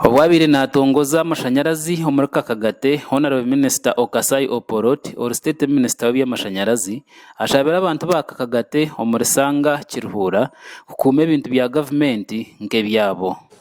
Obwabaire naatongoza amashanyarazi omuri Kakagate, Honarebo Minisita Okasai Opolot ori State Minisita w'ebyamashanyarazi ashabire abantu ba Kakagate omuri Sanga Kiruhura kukuuma ebintu bya gavumenti nk'ebyabo.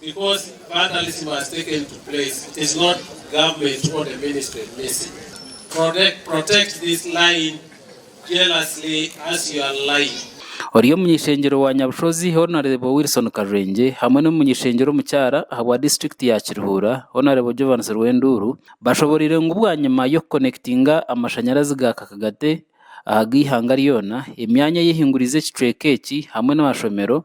Because vandalism has taken to place it is not government or the ministry missing protect protect this line jealously as you are lying. Ori omuny'ishengyero wa Nyabushozi Honarebo Wilson Karwengye hamwe n'omuny'ishengyero omukyara ahabwa disiturikiti ya Kiruhura Honarebo Jovansi Rwenduuru bashoboreire ngu bwanyima y'okukonekitinga amashanyarazi ga kakagate ahag'eihanga ryoona emyanya eyehinguriize ekicweka eki hamwe n'amashomero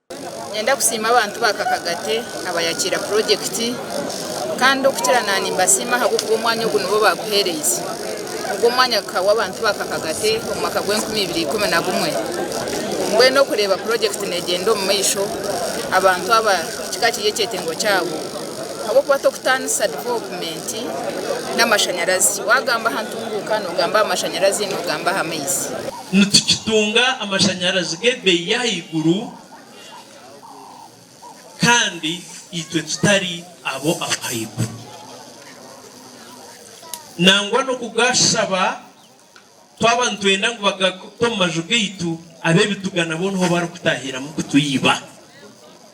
Niinyenda kusiima abantu ba Kakagate abayakiira purojekiti kandi okukira na nimbasiima ahabw'okuba omwanya ogu nibo baaguheereize. Ogu omwanya gukahwa abantu ba Kakagate omu mwaka gwa enkumi ibiri ikumi na gumwe. Mbwenu okureeba purojekiti neegyenda omu maisho abantu aba kikaba kiri ekyetengo kyabo ahabw'okuba tokutaanisa divopumenti n'amashanyarazi. Waagamba aha ntunguuka noogamba aha mashanyarazi noogamba aha maizi. Nitukitunga amashanyarazi g'ebeeyi y'ahaiguru kandi itwe tutari abo ab'ahaiguru. Nangwa n'okugashaba twaba nitwenda ngu bagakute omu maju gaitu, ab'ebituga nabo niho barikutahiramu kutuiba.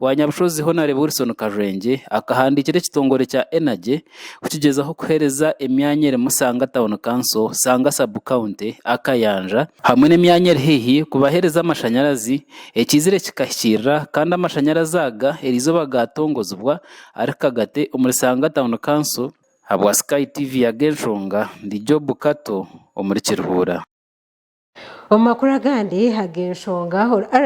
Owa Nyabushozi Honarebo Wilson Karwengye akahandiikira ekitongore kya Energy kukigyezaho kuhereza emyanya erimu Sanga Town Council, Sanga Sub County, Akayanja, hamwe n'emyanya eri haihi kubahereza amashanyarazi ekiizire kikahikirira kandi amashanyarazi aga erizooba gaatongozibwa ari kagate omuri Sanga Town Council. Habwa Sky TV Ag'enshonga ndi Job Kato omuri Kiruhura. Omu makuru agandi ag'enshonga,